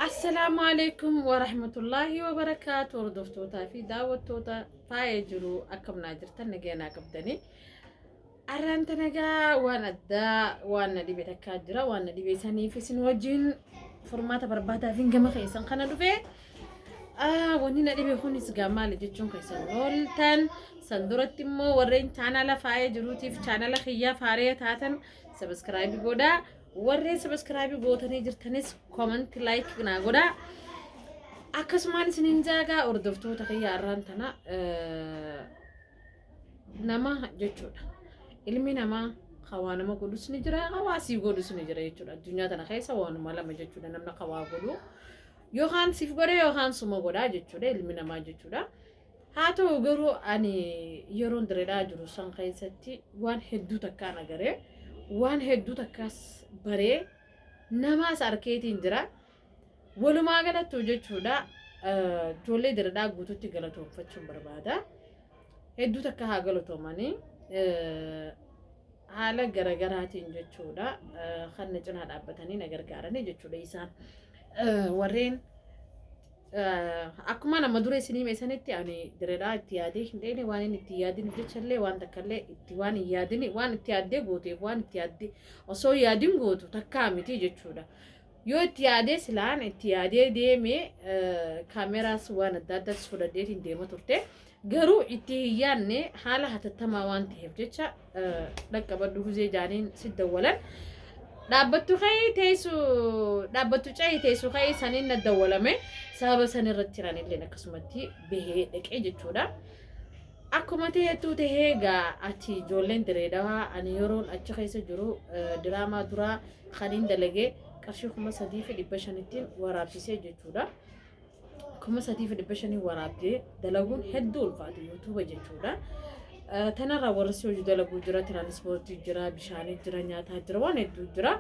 Assalaamu alaikum wa rahmatullaahi wa barakaatu hordoftootaa fi daawwattoota faaya jiru akkamnaa jirtan nageenyaa qabdanii arraan tanagaa waan addaa waan na dhibe takkaa jira waan na dhibe saniif isin wajjin furmaata barbaadaa fi gama keessan kana dhufe wanni na dhibe kunis gaa maali jechuun keessan ooltan san duratti immoo warreen chaanala faaya jiruutiif chaanala kiyyaa faaree taatan sabiskiraayibii godhaa Warreen sabiskiraabii gootanii jirtanis koomanti laayik naa godhaa. Akkasumaan isiniin jaagaa hordoftoota kiyya arraan tana nama jechuudha. Ilmi namaa hawaa nama godhus ni jira hawaa sii godhus ni jira jechuudha. Addunyaa tana keessa waanuma lama jechuudha namni hawaa godhu. Yookaan siif godha yookaan suma godha jechuudha ilmi namaa jechuudha. Haa ta'u garuu ani yeroon diredhaa jiru san keessatti waan hedduu takkaan agaree waan hedduu takkaas baree namaas arkeetiin jira. Walumaa galattuu jechuudha ijoollee diredhaa guututti galatoomfachuun barbaada. Hedduu takka haa galatoomanii haala garagaraatiin jechuudha kan na cinaa dhaabbatanii na gargaaranii jechuudha isaan warreen Akkuma nama dura isin hime sanitti ani diredhaa itti yaadee hin dheene waan inni itti yaadin jechallee waan takkaallee itti waan hin yaadin waan itti yaaddee gooteef waan itti yaaddee osoo yaadin gootu takkaa miti jechuudha. Yoo itti yaadee silaan itti yaadee deemee kaameraas waan adda addaas fudhadheetiin deema turte. Garuu itti hin yaadne haala hatattamaa waan ta'eef jecha dhaqqabadhu guzee jaaniin si dawwalan. Dhaabbattu ka'ee teessu dhaabbattu ca'ee teessu ka'ee saniin na dawwalame sababa san irratti jiran illee akkasumatti bahee dhaqee jechuudha. Akkuma ta'etu ta'ee egaa achi ijoolleen direedawaa ani yeroon achi keessa jiru diraamaa duraa kaniin dalagee qarshii kuma sadii fi dhibba shanittiin waraabsisee jechuudha. kuma sadii fi dhibba shanii waraabdee dalaguun hedduu ulfaata yuutuuba jechuudha. Tanarraa warri si hojii dalaguu jira, tiraanispoortii jira, bishaanii jira, nyaataa jira, waan hedduu jira.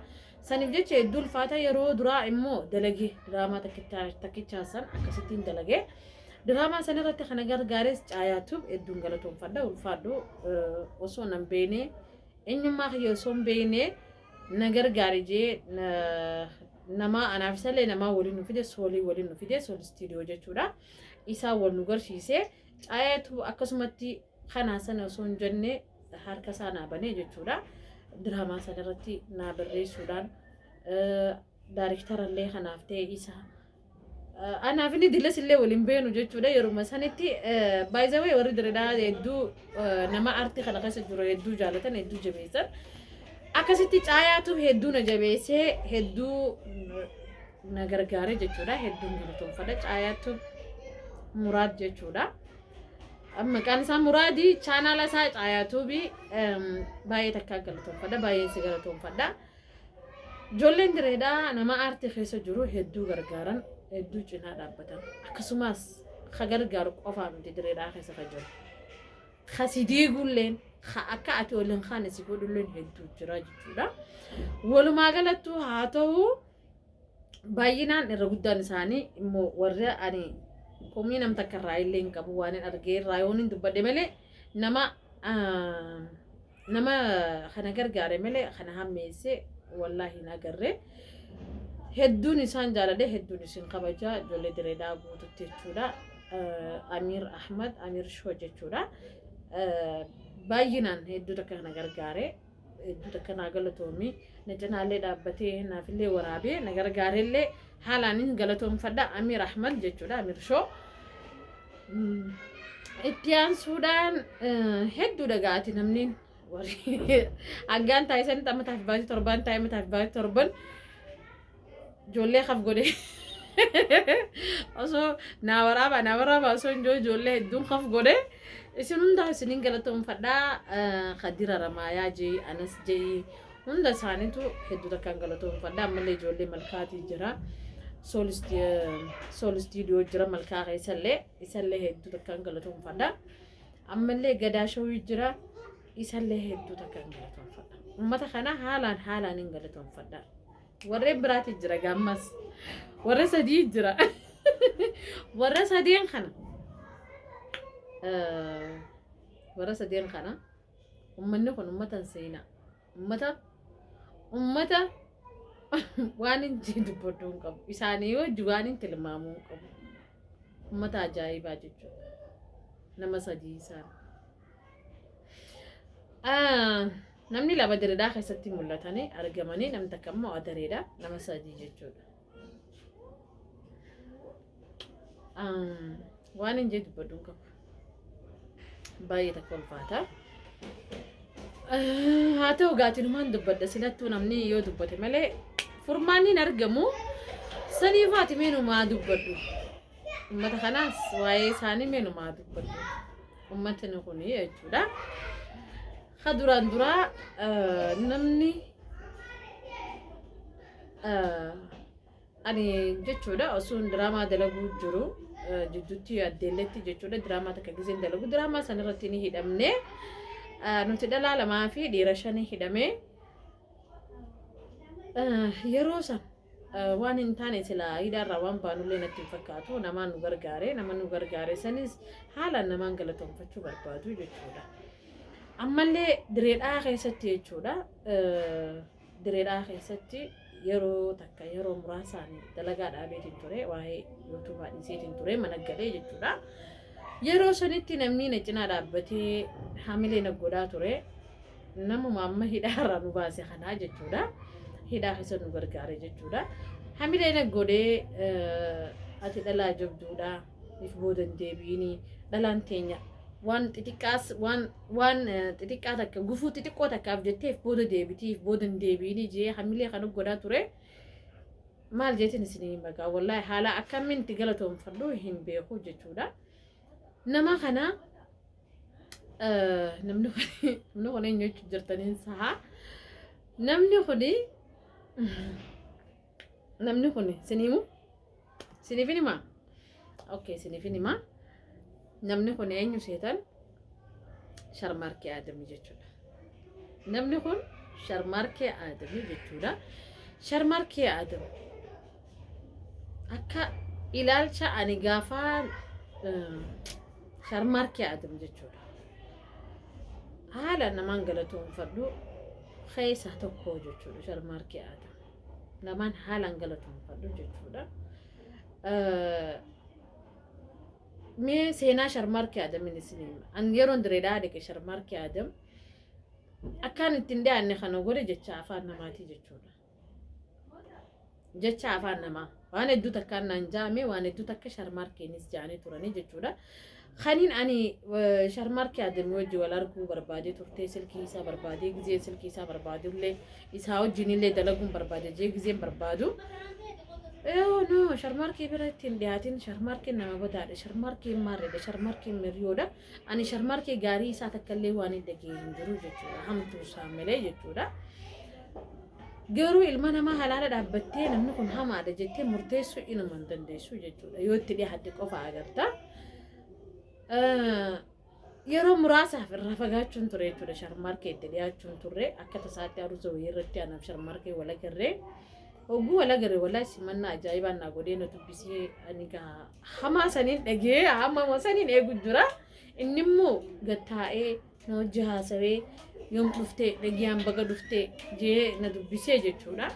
Saniif jecha hedduu ulfaata yeroo duraa immoo dalagee diraamaa takkichaa san akkasittiin dalagee. Diraamaa san irratti kana gargaares caayaatu hedduun galatoomfadha ulfaadhu osoo nan beekne eenyummaa kiyya osoo hin beekne na gargaari jee namaa anaaf isallee namaa waliin nu fide soolii waliin nu fide sool istiidiyoo jechuudha isaa wal nu garsiise caayeetu akkasumatti kanaa sana osoo hin jenne harka isaa naa banee jechuudha diraamaa sana irratti naa barreessuudhaan daariktarallee kanaaf ta'e isaa Anaaf inni dilas illee waliin beenu jechuudha yeruma sanitti baay'ee warri diredaa hedduu nama artii kana keessa jiru hedduu jaalatan hedduu jabeessan akkasitti caayaatu hedduu na jabeessee hedduu na gargaare jechuudha hedduun galatoomfadha caayaatu muraad jechuudha. Maqaan isaa muraadii chaanaala isaa caayaatuubii baay'ee takkaa galatoomfadha baay'een si galatoomfadha. Ijoolleen direedhaa nama aartii keessa jiru hedduu gargaaran hedduu cinaa dhaabbatan akkasumas ka gargaaru qofaa miti direedhaa keessa ka jiru ka si diigulleen ka akka ati ol hin kaane si godhulleen hedduu jira jechuudha. Walumaa galattuu haa ta'u baay'inaan irra guddaan isaanii immoo warri ani komii nam takka irraa illee hin qabu waan hin argee irraa yoon hin dubbadhe malee nama Nama kana gargaare malee kana hammeesse wallahi hin agarre. Hedduun isaan jaaladhe hedduun isin kabaja ijoollee direedaa guututti jechuudha. Amiir Ahmad Amiir Shoo jechuudha. Baay'inaan hedduu takka kana gargaare hedduu takka naa galatoomi na cinaallee dhaabbatee naafillee waraabee na gargaarellee haalaan hin galatoomfadha Amiir Ahmad jechuudha Amiir Shoo. Itti aansuudhaan hedduu dhagaati namni haggaan taasisan amma taaf baasii torbaan taa'e amma taaf baasii torban ijoollee haf godhe osoo naa waraabaa naa waraabaa osoo hin jiru ijoollee hedduun haf godhe isin hundaa isiniin galatoomfadhaa kadira ramaayaa jee anas jee Hunda isaaniitu hedduu takkaan galatoomfadha. Ammallee ijoollee malkaatii jira. Sool istiidiyoo jira malkaa keessallee isallee hedduu takkaan galatoomfadha. Ammallee gadaa shawii jira isallee hedduu takkaan galatoomfadha. Uummata kana haalaan haalaan hin galatoomfadha. Warreen biraatii jira gaammas. Warra sadii jira. Warra sadeen kana. Warra sadeen kana. Ummanni kun ummata hin seenaa. Ummata ummata waan hin jee dubbaduu hin qabu. Isaanii yoo hojii waan hin tilmaamuu hin qabu. Ummata ajaa'ibaa jechuudha. Nama sadii isaan. Ah, Namni lama diridhaa keessatti mul'atanii argamanii namni takka immoo adareedha. Nama sadii jechuudha. Waan hin jedhu baduun qabu. Baay'ee takka ulfaata. Haa ta'u gaatinumaan dubbadha silattuu namni yoo dubbate malee furmaanni hin argamu. Sanii faati meenumaa dubbadhu. Uummata kanaas waa'ee isaanii meenumaa dubbadhu. Uummatni kun jechuudha. Ka duraan duraa namni ani jechuudha osuun diraamaa dalaguu jiru jidduutti addeelletti jechuudha diraamaa takka gizeen dalagu diraamaa san irratti ni hidhamne nuti dhalaa lamaa fi dhiira shanii hidhame yeroo san waan hin taane silaa hidhaarraa waan baanullee natti hin fakkaatu namaan nu gargaare nama nu gargaare sanis haalaan namaan galatoomfachuu barbaadu jechuudha ammallee direedhaa keessatti jechuudha Dire Dhawaa keessatti yeroo takka yeroo muraasaan dalagaa dhaabeetiin ture waa'ee yuutuubaa dhiiseetiin ture mana galee jechuudha. Yeroo sanitti namni na cinaa dhaabbatee hamilee na godhaa ture namuma amma hidhaarraa nu baase kanaa jechuudha. Hidhaa keessa nu gargaare jechuudha. Hamilee na godhee eh, ati dhalaa jabduudha. if booda hin deebi'inii dhalaan teenya waan xixiqqaas waan waan eh, xixiqqaa takka gufuu xixiqqoo takkaaf jettee if booda deebitii if booda hin deebi'inii jee hamilee kan godhaa ture maal jeetiin isinii magaa wallaahi haala akkamiin itti galatoomfadhu hin beeku jechuudha nama kana eh, namni kun namni kun eenyu jechuun jirtaniin sahaa namni kuni namni kun sin himu sinifin hima okay sinifin hima namni kun eenyu seetan sharmaarkee aadamii jechuudha namni kun sharmaarkee aadamii jechuudha sharmaarkee aadam akka ilaalcha ani gaafaa sharmaarkee aadam jechuudha haala namaan galatoomfadhu keessa tokko jechuudha sharmaarkee aadam lamaan haalaan galatoomfadhu jechuudha. Mee seenaa sharmaarkee Adamin isin hima. An yeroon direedaa dhaqe sharmaarkee Adam akkaan ittiin dhiyaanne kana godhe jecha afaan namaatii jechuudha. Jecha afaan namaa. Waan hedduu takkaan naan jaame waan hedduu takka sharmaarkeenis jaanii turanii jechuudha. Kaniin ani sharmaarkee adeemee wajji wal arguu barbaadee turtee silkii isaa barbaadee gizee silkii isaa barbaadullee isaa wajjinillee dalaguun barbaade jee gizeen barbaadu. Yoo no sharmaarkee bira ittiin dhiyaatiin sharmaarkeen nama badaadha sharmaarkeen maarreedha sharmaarkeen miriyoodha ani sharmaarkee gaarii isaa takkallee waan hin dhageenye hin jiru jechuudha hamtuu isaa malee jechuudha. Garuu ilma namaa halaala dhaabbattee namni kun hamaadha jettee murteessuu inuma hin dandeessu jechuudha. Yoo itti dhihaatte qofa agarta. Yeroo muraasaaf irraa fagaachuun ture jechuudha. Sharmaarkee itti dhihaachuun turre akka tasaatti aruuza wayii irratti anaaf sharmaarkee wal agarree. Oguu wal agarre walaa simannaa ajaa'ibaa naa godhee na dubbisee ani gaa hamaa saniin dhagee hamaa saniin eegu jira. Inni immoo gattaa'ee na wajji haasawee yoom dhuftee dhagiyyaan baga dhuftee jee na dubbisee jechuudha.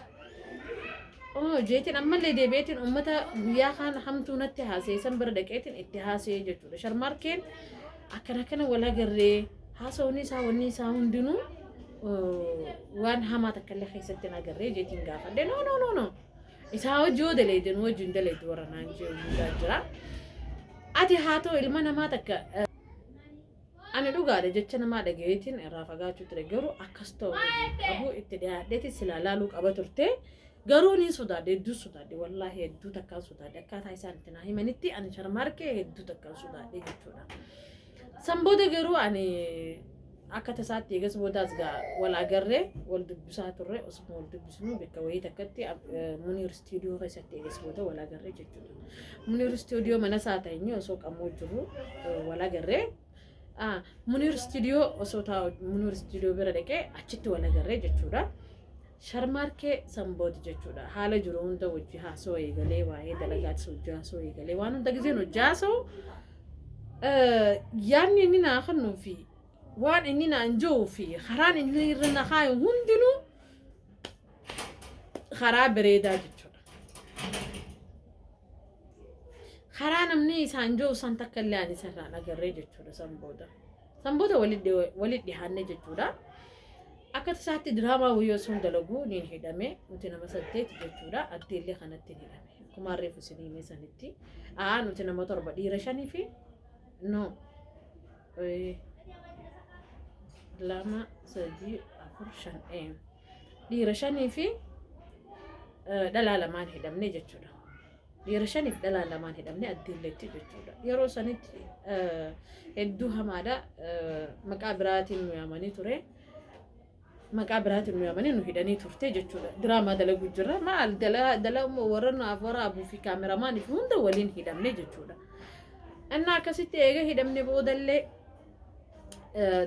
Oo jeetiin ammallee deebi'eetiin uummata guyyaa kaan hamtuu natti haasee san bira dhaqeetiin itti haasee jechuudha. Sharmaarkeen akkana kana wal agarree haasawni isaa wanni isaa hundinuu eh, waan hamaa takka illee keessatti hin agarree jeetiin gaafadhe. No no no no. Isaa hojii yoo daleedin hojii hin daleedu warra naan jee hundaa jira. Ati haa ta'u ilma namaa takka eh, Ani dhugaadha jecha namaa dhagayeetiin irraa fagaachuu ture garuu akkas ta'u qabu itti dhiyaadheeti silaa laaluu qaba turte garuu niin sodaadhe hedduu sodaadhe wallaahi hedduu takkaan sodaadhe akkaataa isaan itti naa himanitti ani sharmaarkee hedduu takkaan sodaadhe jechuudha. San booda garuu ani akka tasaatti eegas boodaas gaa wal agarree wal dubbisaa turre osuma wal dubbisnu bakka wayii takkatti Muniiris Istiidiyoo keessatti eegas booda wal agarree jechuudha. Muniir istiidiyoo mana isaa teenyee osoo qamoo jiru wal agarree. Muniir istiidiyoo osoo taa'u Muniir istiidiyoo bira dhaqee achitti wal agarree jechuudha. Sharmaarkee sanbooti jechuudha. Haala jiru hunda hojii haasoo eegalee waa'ee dalagaatis hojii haasoo eegalee waan hunda gizeen hojii haasoo yaadni inni naa kennuu fi waan inni naan jiru fi karaan inni irra na kaayu hundinuu karaa bareedaa jechuudha. Karaa namni isaan jiru san takka illee ani isarraan agarree jechuudha san booda. San booda walitti dhihaannee jechuudha. Akka isaatti diraamaa wayyoo sun dalaguu ni hidhame nuti nama saddeeti jechuudha addee illee kanatti ni hidhame. Kumaan reefu isin himee sanitti. Aa nuti nama torba dhiira shanii fi no lama sadii afur shan ee. Dhiira shanii fi dhalaa lamaan hidhamne jechuudha. Dhiira shaniif dhalaa lamaan hidhamne addiilleetti jechuudha. Yeroo sanitti hedduu hamaadha. Maqaa biraatiin nu yaamanii ture. Maqaa biraatiin nu yaamanii nu hidhanii turte jechuudha. Diraamaa dalaguu jirra. Maal dalaguu warra naaf waraabuu fi kaameramaan fi hunda waliin hidhamne jechuudha. Innaa akkasitti eega hidhamne boodallee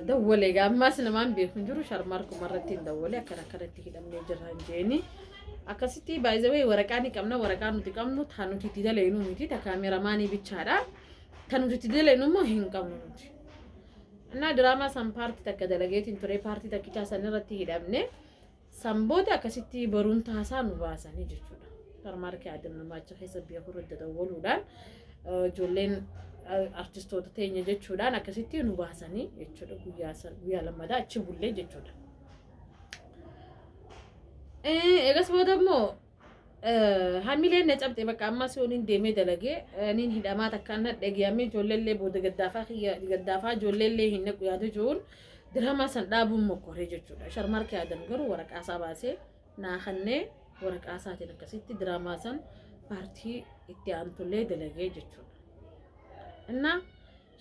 dawwalee egaa ammaas namaan beeku hin jiru sharmaarkuma irratti hin dawwalee akkana akkanatti hidhamnee jirra hin jeeni. Akkasitti baay'ee waraqaa ni qabna waraqaa nuti qabnu taa nuti itti dalaynuu miti taa kaameramaanii bichaadha. Taa nuti itti dalaynuu immoo hin qabnu nuti. Innaa diraamaa san paartii takka dalageetiin ture paartii takkichaa san irratti hidhamne. San booda akkasitti boruun taasaa nu baasanii jechuudha. Supermarket Adam Namaacha keessa biyya kurra dadawwaluudhaan ijoolleen artistoota teenya jechuudhaan akkasitti nu baasanii jechuudha guyyaa san guyyaa lammadaa achi bullee jechuudha. Eegas booda immoo Hamileen na cabxe bakka ammaa si waliin deemee dalagee niin hidhamaa takka na dhageeyamee ijoolleellee booda gaddaafaa kiyya gaddaafaa ijoolleellee hin naqu yaada jiruun diraamaa san dhaabuun mokkoree jechuudha. Sharmaarkee Adam garuu waraqaasaa baasee naa kannee waraqaasaatiin akkasitti diraamaa san paartii itti aantullee dalagee jechuudha. Innaa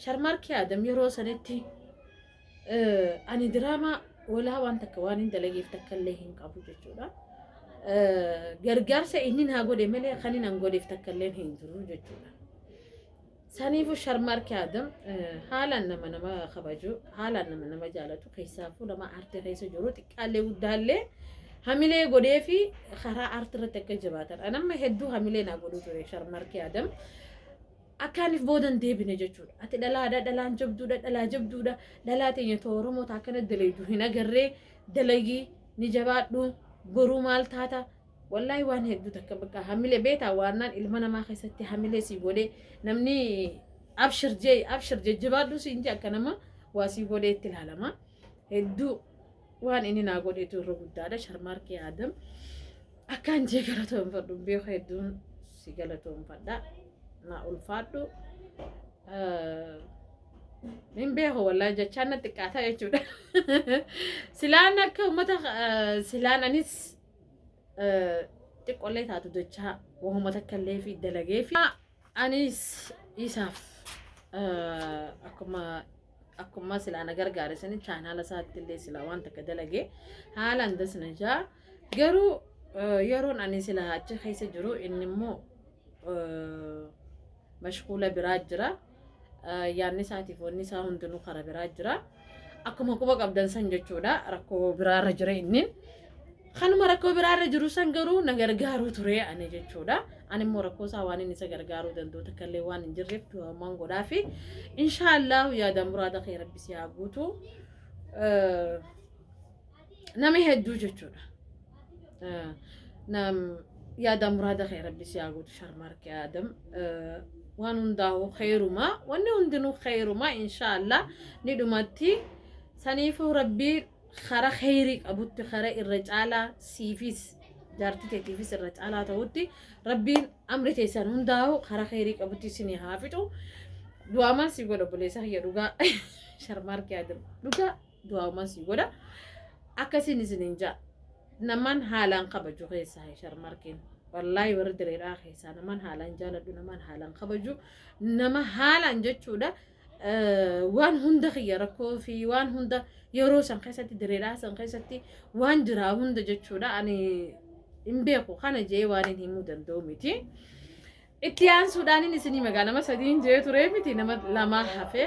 Sharmaarkii Adam yeroo sanitti ani diraamaa walaa waan takka waan hin dalageef takka illee hin qabu jechuudha. Gargaarsa inni naa godhe malee kan inni hin godheef takka illee hin jiru jechuudha. Saniifuu Sharmaarkii Adam haalaan nama nama kabaju, haalaan nama nama jaalatu, keessaafuu nama aartii keessa jiru xiqqaallee guddaallee hamilee godhee fi karaa aartii irratti akka jabaatan. Anamma hedduu hamilee naa godhu ture Sharmaarkii Adam. Akkaanif booda hin deebine jechuudha. Ati dhalaadha, dhalaan jabduudha, dhalaa jabduudha. Dhalaa teenya too Oromoo taa akkana dalaydu hin agarree dalagii ni jabaadhu boruu maal taata wallaahi waan hedduu takka bakka hamilee beetaa waannaan ilma namaa keessatti hamilee sii godhee namni abshir jee abshir jajjabaadhu siin jee akka nama waa sii godhee itti ilaalama. hedduu waan inni naa godheetu irra guddaadha sharmaarkee aadam akkaan jee galatoomfadhu beeku hedduun si galatoomfadha naa ulfaadhu hin beeku wallaa jechaan na xiqqaata jechuudha silaan akka uummata silaan anis xiqqollee taatu jechaa wahuma takka illee fi dalagee fi Anis isaaf akkuma akkuma silaa na gargaare sani chaanaala isaatti illee silaa waan takka dalage haalaan das na jaa garuu yeroon ani silaa achi keessa jiru inni immoo mashkuula biraa jira yaanni isaatiif wanni isaa hundinuu kara biraa jira. Akkuma quba qabdan san jechuudha rakkoo biraarra jira inni. Kanuma rakkoo biraarra jiru san garuu na gargaaruu ture ani jechuudha. Ani immoo rakkoo isaa waan inni isa gargaaruu danda'u takka illee waan hin jirreef du'amaan godhaa fi inshaallah yaada muraada kee rabbi si haa guutu. Nami hedduu jechuudha. Eh, Nam yaada muraada kee rabbi si haa guutu sharmaarkee aadam. Eh, Waan hundaa'u kheyrumaa wanni hundinuu kheyrumaa inshaallah ni dhumatti. Saniifuu rabbi kara kheyrii qabutti kara irra caalaa siifis jaartii teetiifis irra caalaa ta'utti rabbiin amri teessan hundaa'u kara kheyrii qabutti isin haa fixu. Du'aamaan si godha buleessa kiyya dhugaa sharmaarkee aadam dhugaa. du'aawumaan sii godha akkasiin isiniin ja'a naman haalaan kabaju keessaa hin sharmarkiin wallaahi warri direedhaa keessaa naman haalaan jaaladhu naman haalaan kabaju nama haalaan jechuudha waan hunda kiyya rakkoo fi waan hunda yeroo san keessatti direedhaa san keessatti waan jiraa hunda jechuudha ani hin beeku kana jee waan hin himuu danda'u miti. Itti aansuudhaan isinii magaalama sadiin jee turee miti nama lamaa hafee.